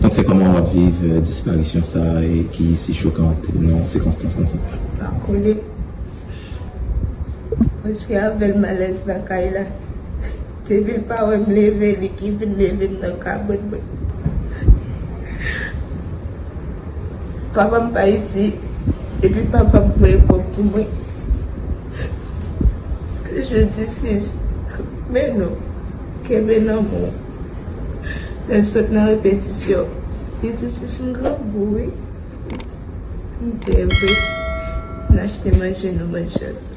Donk se kòman wap viv disparisyon sa e ki si chokant nan sikonstans konsa? Pa konnen. Mwen se avèl malèz nan kay la. Depil pa wèm leve li ki vin leve m nan kabrit mwen. Papa m pa isi epi papa m voye kòb pou mwen. Se jodi 6 me nou. Kenbe lanmou. Lèl sot nan repetisyon li di sis m grangou wi m di evre n achte manje nou manje sa.